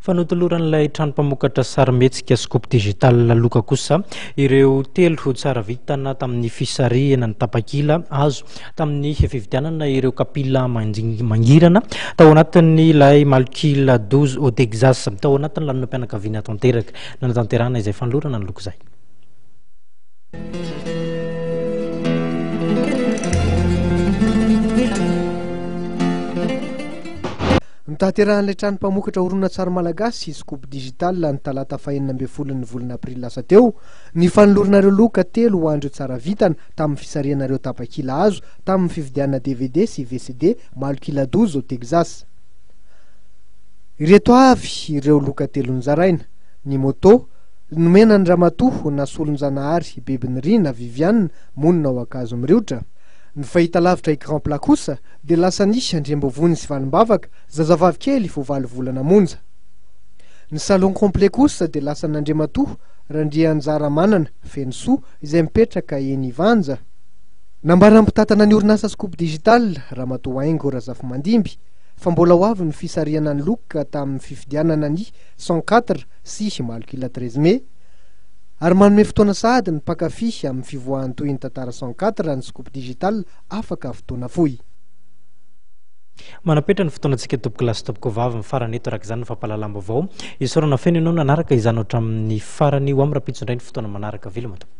Fa notoloran'ilay trano mpamokatra sarimihetsika Scoop Digital Loka kosa ireo telo tsara vitana tamin'ny fisarihana ny tapakila azo tamin'ny fividianana ireo kapila mangirana tao anatin'ilay Malkila Douze au Texas, tao anatin'ny lanonam-pianakaviana tanteraka nanatanterahana izay fanolorana ny loka izay. Notaterahan'ilay trano mpamokatra horonantsary malagasy sy Scoop Digital ny talata fahenina ambin'ny folon'ny volana aprily lasa teo ny fanolorana ireo loka telo ho an'ireo tsara vitana tamin'ny fisarihana ireo tapakila azo tamin'ny fividianana dvd sy vcd malokila doze ao Texas. Ireto avy ireo loka telo nozaraina, ny moto, nomena an'i Ramatoa Nasolonjanahary Bebinirina Viviane, monina ao Ankazomiriotra, ny fahitalavitra écran plat kosa, dia lasa nisy andriambavony sy valimbavaka zazavavy kely vao valo volana monja. Ny salon complet kosa dia lasan'Andriamatoa Randrianjaramanana Fenosoa izay mipetraka eny Ivanja. Nambaran'ny mpitantana ny orinasa Scoop Digital, Ramatoa Haingo Razafimandimby, fa mbola ho avy ny fisarihana ny loka tamin'ny fifidianana ny cent quatre sy Malok'ila treize mai, ary manome fotoana sahady ny mpankafy amin'ny fivoahan'ny tohin'ny tantara cent quatre ny Scoop Digital afaka fotoana fohy. Manapetra ny fotoanantsika tompoko lahy sy tompoko vavy mifarana eto araka izany ny fampahalalam-baovao. Isaorana feno ianao nanaraka izany hatramin'ny farany. Ho amin'ny rahampitso indray ny fotoana manaraka. Veloma tompoko.